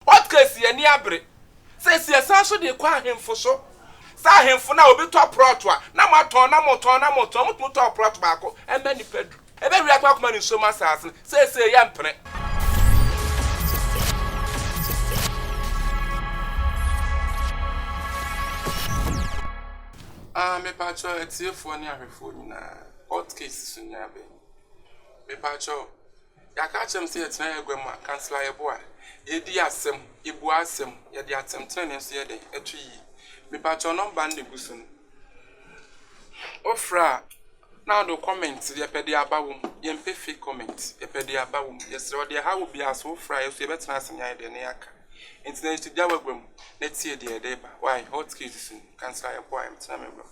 Hotcakes yɛn ani abere. Seesei yɛsan so de rekɔ ahemfo so. Saa ahemfo no a obi tɔ prɔto a, na moatɔn, na motɔn, na motɔn, mutumi tɔɔ prɔto baako ma nnipa du. Ɛbɛwe atɔn akoma ne nsuom asase no. Seesei yɛmpene. Ah, mepakyɛw atiefoɔ ne ahwɛfoɔ nyinaa, Hotcakes so nyaa bɛ yi. Mepakyɛw. Yɛaka akyerɛ me sɛ yɛtena yɛn agua mu a, kansla yɛbɔ a, yɛdi asɛm, yɛbua asɛm, yɛde atɛmtenenee nso yɛ dɛn? Ɛto yie. Mepakyɛw nɔmba no na egu so no, wofrɛ a na wode wo comment, yɛpɛ deɛ aba wom, yɛmpɛ fake comment, yɛpɛ deɛ aba wom, yɛsrɛ wo, deɛ ɛha wo biara sɛ wofrɛ a yɛso yɛbɛtena ase ne ayɛ dɛn? Ne yɛaka. Enti na yɛto gya w'agua mu na tie deɛ ɛde reba. Why? Hot case so no, kansla yɛbɔ a, yɛtena m'agua mu.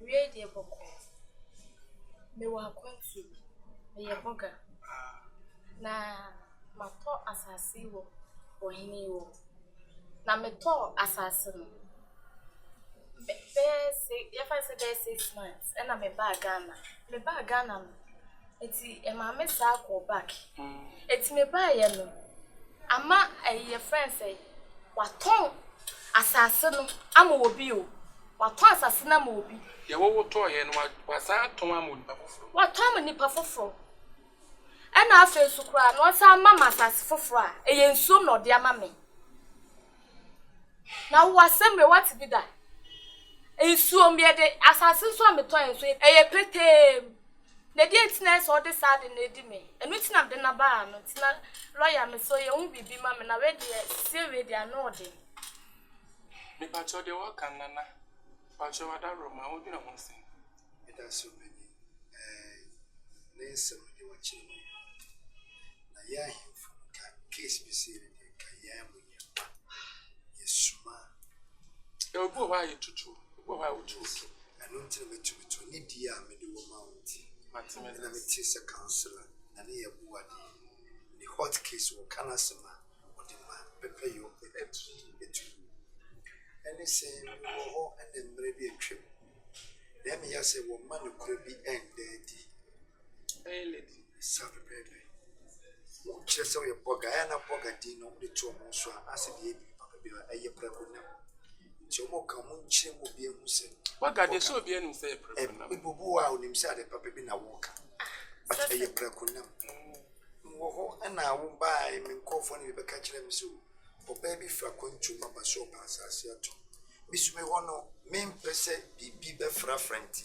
Awiei deɛ bɔkɔɔ. Mewɔ akwantu bi, meyɛ bɔga. Na matɔ asase yi wɔ ɔhene yi hɔ. Na metɔɔ asase no bɛyɛ se yɛmfa no sɛ bɛyɛ six months ɛna mebaa Ghana. Mebaa Ghana no, enti ɛmaa me san kɔɔ back. Enti mebaeɛ no, ama ɛyi yɛfrɛ no sɛn, wɔatɔn asase no ama obi o. Watɔn asase no ama obi. Deɛ wotɔeɛ no, wasan atɔn ama onipa foforɔ. Watɔn ama nipa foforɔ. Ɛna afei nso koraa no, ɔsan ama me asase foforɔ a, ɛyɛ nsuom na ɔde ama me. Na wowɔ asɛm wei woate bi da? Nsuom yɛ de, asase nso a metɔeɛ nso, ɛyɛ petee mu. Na deɛ nti na ɛyɛ sɛ ɔde saa ade no adi me, ɛno nti na mede no aba ha no. Nti na lɔya, mesrɛ wo yɛhu biribi ma me na wei deɛ, sesie wei deɛ, ano yɛ den. Mepakyɛw deɛ waka no nana. Pakyɛw adaworoma wodwene ho sɛn. Meda so m'ani ɛɛɛ ne nsɛm deɛ wakyerɛ mu yi na yɛn ahemfo no ka case bi sei no deɛ nka yɛn ara mu yɛn mma yɛ suma. Ebi wɔ hɔ a yɛ tutuo, ebi wɔ hɔ a wotu wotu. Ɛno nti na matumi to ne die a mede wɔ ma wo nti ɛna mete sɛ councilor na ne yɛ boa deɛ ne hot case wɔ ka no asɛm a. wɔde ma pɛpɛyɔ atiri tumi. Ɛne sɛ mewɔ hɔ ne mmerɛ bi atwam na ɛma yɛahu sɛ wɔmma nokorɛ bi nda adi. Ɛyɛ lady bi saa pɛpɛɛpɛ. Wokyerɛ sɛ woyɛ blɔga a, ɛyɛ a na blɔga din no wode to wɔn so a, asɛ deɛ ɛyɛ biribi papa bi a, ɛyɛ prɛko nam. Nti wɔka wɔn nkyerɛ mu obi ahu sɛ. Blɔga deɛ sɛ obi anim sɛ ɛyɛ prɛko nam. Ebi wɔ hɔ a onim sɛ ade papa bi na wɔka but ɛyɛ prɛko nam. Mewɔ hɔ na wobaeɛ, me nkurɔfoɔ na bɛka kyerɛɛ me sɛ o, ɔbaa bi firi akwantuo mu aba sɛ ɔrepɛ asaase atɔ. Me nso me wɔ hɔ no, mempɛ sɛ biribi bɛfrafra nti,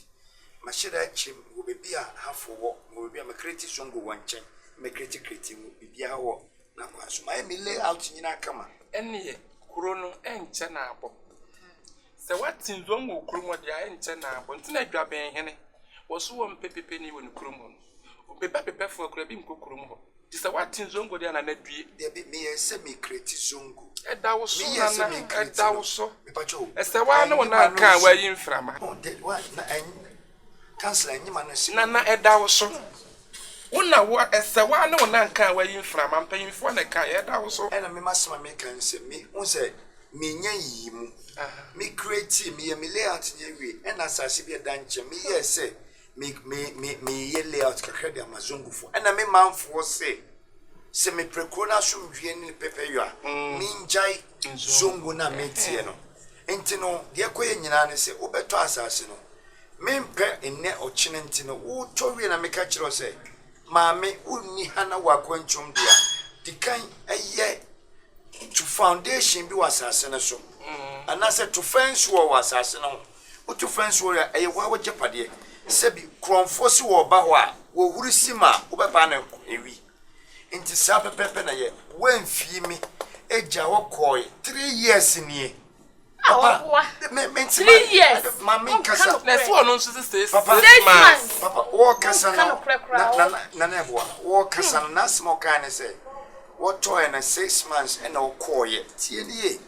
mahyɛ da akyiri mu wɔ baabi a Hafoɔ wɔ, mewɔ baabi a Makreti Zongo wɔ nkyɛn, Makreti Kreti mu, biribiara wɔ n'akwan so. Mayɛ me lay out nyinaa kama. Ɛnneɛ kuro no ɛnkyɛ na abɔ. Sɛ woate Zongo kurom hɔ deɛ a ɛnkyɛ na abɔ. Nti na Dwabenhene, wɔso wɔmpɛ pepani wɔ ne kurom hɔ no. Obebɛbebɛ foɔ koraa bi nkɔ kurom hɔ. Te sɛ woate zongo deɛ Nana due. Dabi me yɛ sɛ me kreti zongo. Ɛda wo so Nana ɛda wo so. Ɛsɛ waa ne wo nan ka a wayi mframa. Nana ɛda wo so. Wo na wo ɛsɛ waa ne wo nan ka a wayi mframa mpanyinfoɔ na ɛka yɛ ɛda wo so. Ɛna me masɛm a meka ne sɛ me hu sɛ me nya yiyi mu. Me kreti me yɛ me layout nyɛ wie ɛna asase bi ɛda nkyɛn me yɛɛ sɛ Me me me meyeyɛ layout kakra de ama Zongufo ɛna me manfoɔ se sɛ mepre kuro no asomdwie ne ne pɛpɛyɔ a mengyae Zongo no a meteɛ no nti no deɛ ɛkɔyɛ nyinaa ne sɛ wobɛtɔ asase no mempɛ nnɛ ɔkyene nti no wotɔ wie na meka kyerɛ wo sɛ maame wonni ha na wo akwantuom de a dikan ɛyɛ to foundation bi wɔ asase no so anaasɛ to fence wɔ wɔ asase no ho. Wotu frɛ nsuɔre a, ɛyɛ woa w'agyapadeɛ. Sɛbi, korɔnfoɔ si wɔ ɔba hɔ a, wɔhuri si ma wobɛbaa no nko awi. Nti saa pɛpɛɛpɛ na yɛ. Woamfii me agya hɔ kɔɔe. Three years nie. Papa, me, me nti ma, ma me nkasa. Na ɛsi ɔno nso sɛ six, Papa, six months. Papa, wɔɔkasa no, na, na, na, na, na ɛboa. Wɔɔkasa no, n'asɛm a ɔkaeɛ ne sɛ, wɔtɔɔɛ no six months ɛna ɔkɔɔeɛ. Tie no yie.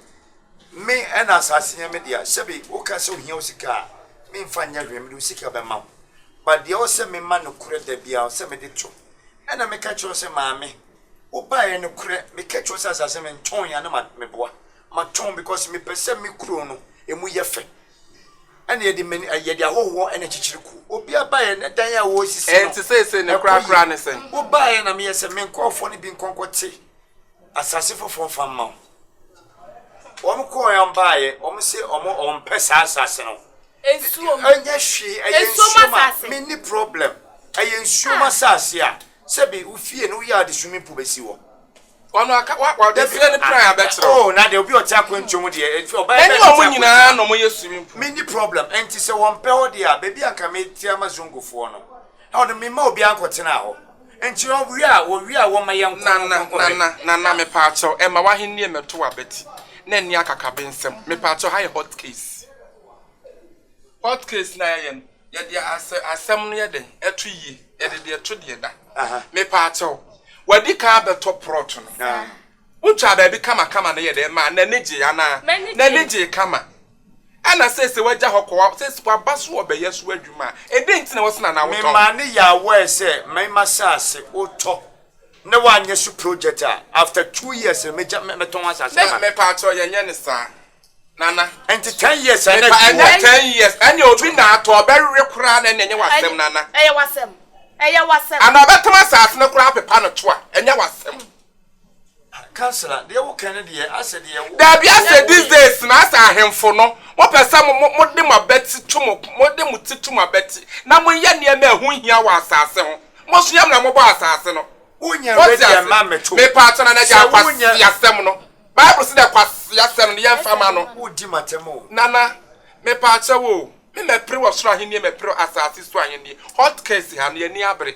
Me na asase yɛ me dea sɛbe woka sɛ ohia wo sika a me nfa nyɛ hwee mede wo sika bɛma wo but deɛ ɛwɔ sɛ me ma nokorɛ da biara ɔsɛ mede to ɛna me ka kyerɛ wo sɛ maame wo baeɛ nokorɛ me ka kyerɛ wo sɛ asase me ntɔn ya na ma me boa ma tɔn because me pɛ sɛ me kuro no ɛmu yɛ fɛ ɛna yɛde mani yɛde ahɔhoɔ ɛna kyikyiri kuo obi abaeɛ ne dan a wɔresisi no ɛnti sɛ sɛ ne kura kura ne sɛ wo baeɛ na me yɛ sɛ me nkɔɔfoɔ no bi nkɔnkɔ te Asase foforɔ fa mma wo. Wɔn kɔɔɛ wɔn baayɛ wɔn se wɔn wɔn pɛ saa asase no. Nsuo mu. Ɛnyɛ hwee ɛyɛ nsuo mu a me ni problem ɛyɛ nsuo mu asase a sɛbi wo fie no wo yɛ ade swimming pool bɛ si hɔ. Ɔno aka wa wa ɔde fie no plan abɛkyerɛ wo. Oh na deɛ obi ɔte akwantuo mu deɛ ɛfie ɔbaa bɛ na ɛte akwantuo mu. Mɛni wɔn nyinaa na wɔn yɛ swimming pool. Me ni problem ɛnti sɛ wɔn pɛ hɔ deɛ a baabi a nka me te ama zongofoɔ no. Na ɔde me ma obiara nkɔtena hɔ. Enti ɔwia a, wɔwia a wɔma yɛnkɔ Nana, Honhom Kronkron no. Nana, Nana, mepaakyɛw, ɛma w'ahennie mmɛto w'abati, na ɛnni akakabensɛm. Mepaakyɛw, ha yɛ hot case. Hot case no a yɛyɛ no, yɛde asɛ, asɛm no yɛ dɛn? Ɛto yie. Yɛde deɛ ɛto deɛ da. Aha. Mepaakyɛw, w'adi kan abɛtɔ prɔt no. Aha. Wotwaa baabi kamakama no yɛ dɛn maa n'ani gyee anaa? M'ani gyee. N'ani gyee kama. Ɛna seesei wagya hɔ kɔ, seesei waba so wɔ bɛyɛ so adwuma. Ɛdɛn nti na ɛwɔ sɛ na anaa wotɔ? Memaa no yɛɛ aware sɛ mɛma saase wotɔ na wanyɛ so project a, after two years no mɛgya, mɛ, mɛtɔn asaase no ama no. Me, mepaakyɛw, yɛnyɛ no saa, Nana. Ɛnti ten years a na Mepa, ɛfi hɔ. ɛnyɛ ten years, ɛneɛ obi na atɔ, ɔbɛwe koraa na ɛneɛ ɛnyɛ w'asɛm, Nana. Ɛyɛ w'asɛm, ɛyɛ w'asɛm. Anaa ɔbɛtɔn asaase no koraa apepa no to a, ɛnyɛ w'asɛm. Dabi asɛ these days na asɛ ahenfo no mo pɛ sɛ mo mo de mo abɛti to mo mo de mo ti to mo abɛti na mo yɛ nneɛma ɛho nhia wɔ asaase ho mo so yam na mo bɔ asaase no wote ase me pa akyɛ na na gya kwasi asɛm no bible si dɛ kwasi asɛm no yɛn fa ma no nana me pa akyɛ wo me mɛ pere wɔ soro ahenni mɛ pere asaase so ahenni hot case ha no yɛ ni abere.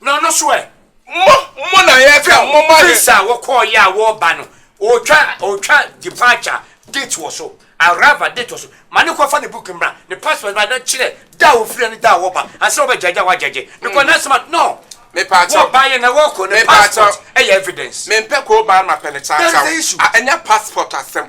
Na ɔno nso ɛ? Mo, mo na yɛfrɛ a momma yɛn. Visa a wokɔɔeɛ a woreba no, ɔretwa, ɔretwa departure date wɔ so, arrival date wɔ so. Ma no nkɔfa ne booking mmra, ne passport mmra na kyerɛ da a ɔfiri ne da a wɔreba ansa na wɔbɛgyagye a wɔagyagye. Because na asɛm a, no, Mepaakyɛw. wɔrebaeɛ na wɔrekɔ no, Mepaakyɛw. passport yɛ evidence. Mempɛ kooban mapɛ ne That is the kyawkyaw. issue. A, ɛnyɛ passport asɛm.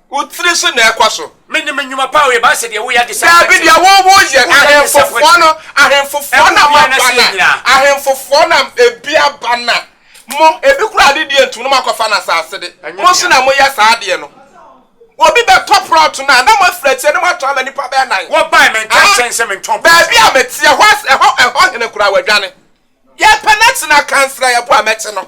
Wo tiri so na ɛkɔ so. Menim nnwuma pa a woyɛ. Baasɛ deɛ woyɛ ade saa Daabi, nso. deɛ wo wo yɛ. Ahemfofoɔ no, ahemfofoɔ na moaba na, ahemfofoɔ na ebi aba na, mo, ebi koraa ade deɛ ntum na moakɔfa no asase de. Mo nso na moyɛ saa adeɛ no. Obi bɛtɔ prɔt no a, na moafiri akyire na moatɔn ama nnipa bɛyɛ nan. Wɔbae, menka nkyerɛ no sɛ mentɔn prɔt. Baabi a mete, ɛhɔ as, ɛhɔ, ɛhɔ hene koraa, wadwane. Yɛpɛ no akye no akansra, yɛbo a mɛkye no.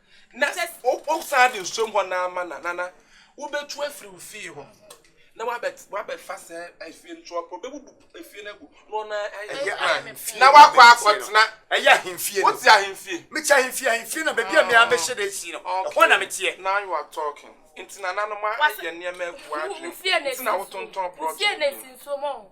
Na sɛ wosan de nsuom hɔ no ara ma no a, nana, wobɛtu afiri wo fie hɔ na woabɛfa saa efie no. So ɔpɛ, ɔbɛbubu efie no agu na ɔno ara ayɛ Ɛyɛ plan ahemfie na na wakɔ mede sie no. akɔtena. Ɛyɛ ahemfie no. Wote ahemfie? Mete ahemfie, ahemfie na baabi a me ara mɛhyɛ da asi no, ɛhɔ na meteɛ. Okay, now you are talking. Nti nananom ayɛ nneɛma agu w'adwene mu, nti na wotontɔn plot no bio.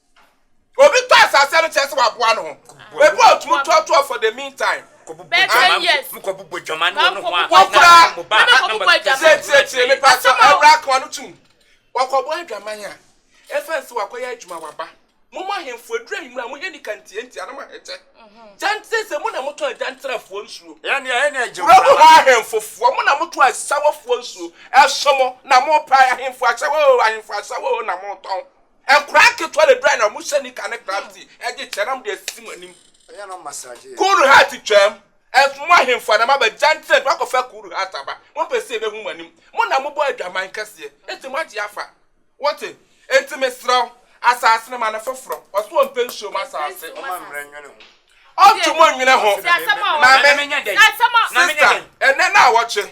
obi tɔ asase no kyerɛ sɛ waboa no ho ebi a ɔtumi toatoa for the mean time tiretire me pa sɛ ɛwura akoma no tum wɔkɔbɔ adwaman a ɛfa nsɛ wakɔyɛ adwuma waba mo mo ahemfo aduru ahemura mo hɛ nika ntie ntia no mo ahɛtɛ gyantere sɛ mo na motɔ agyanterafoɔ nsuo wura mo hɔ ahemfofoɔ mo na motɔ asawafoɔ nsuo ɛso mo na mopa ahemfo asawa o ahemfo asawa o na motɔn Nkwadaa nketewa na ɛdurae na wɔhyɛ nika ne club tee de kyɛnam de asisi mo anim. Cool heart twaam. Ɛnso mo ahemfo anaa mo abagyan tena adwuma kɔfa cool heart aba. Mompɛ sɛ yɛbɛhu mo anim. Mo na mobɔ adwaman kɛseɛ enti moagye afa. Wote? Enti mesrɛ wo, asase no ma no foforɔ. Ɔse ɔmpɛ nsuo mu asase. Ɔnto mo nnwene ho. Maame, sister, ɛnnɛ na awɔkye.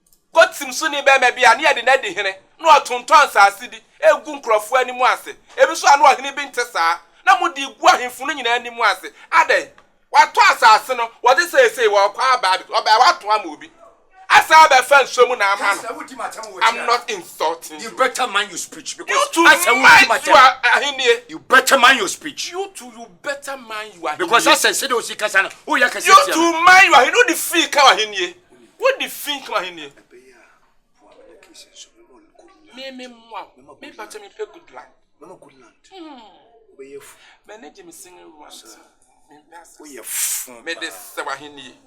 Kotim so ne barima bi a na yɛde no adi hene, na ɔtontɔn nsase bi gu nkurɔfo anim ase. Ebi nso a na ɔhene bi nte saa, na mudi gu ahemfo no nyinaa anim ase. Adɛn? Watɔ asase no, wɔde seesei wɔrekɔ aba abɛtɔ, ɔbɛyɛ a watɔn ama obi asan abɛfa nsuo mu na ama no. I'm not insulting you. You too mind your ahennie. You better mind your speech. You too you better mind your ahennie. Because asɛ sɛdeɛ osi kasa no, woyɛ kɛse tia no. You too mind your ahennie. Wode fii ka w'ahennie. Wo de fi kama he nie. Me me mmoa wo. Me ba kyɛ me pɛ good land. Mama good land. Wo bɛ yɛ fu. Mɛ ne gye me single want. Wo yɛ fu. Me de sɛ wa he nie.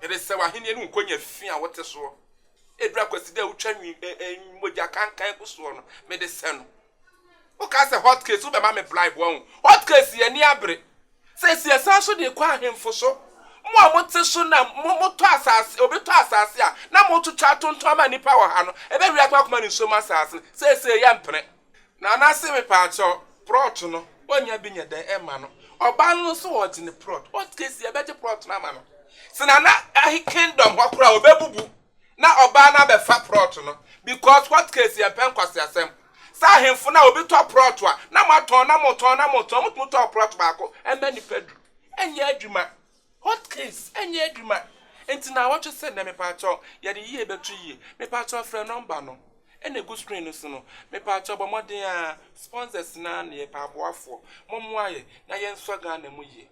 Me de sɛ wa he nie ne nkonya fi a wote soɔ. Ebira kwasi dɛ wotwa nwi eh eh mogya kankan gu soɔ no. Me de sɛ no. Woka sɛ hot case wobɛma me bribe wahu. Hot case yɛ ani abere. Sɛ si ɛsan so de kɔ ahemfo so. Mo a mote so na mo motɔ asase obi tɔ asase a na motwitwa atontɔn ma nnipa wɔ ha no ɛbɛ wia koma koma ne nsuo mu asase no seesei yɛ mpene. Nana se me paakyɛw prɔt no ɔnya bi nyɛ dɛn ɛma no ɔbaa no nso ɔgye ne prɔt hot case yɛbɛgye prɔt no ama no se nana kingdom hɔ koraa ɔbɛbubu. Na ɔbaa no abɛfa prɔt no because court case yɛmpɛ nkwaseasɛm sɛ ahenfo no a obi tɔ prɔt a na moatɔn na motɔn na motɔn motumi tɔɔ prɔt baako ɛma nipa du ɛnyɛ adwuma court case ɛnyɛ adwuma nti naawɔtwe sɛ nnɛ mepaakyɛw yɛde yie bɛto yie mepaakyɛw frɛ nɔmba no ɛna egu screen no so no mepaakyɛw bɔ mmɔden aa sponsors no aa na yɛpɛ aboafoɔ mommoa yɛ na yɛnsɔ Ghana mu yie.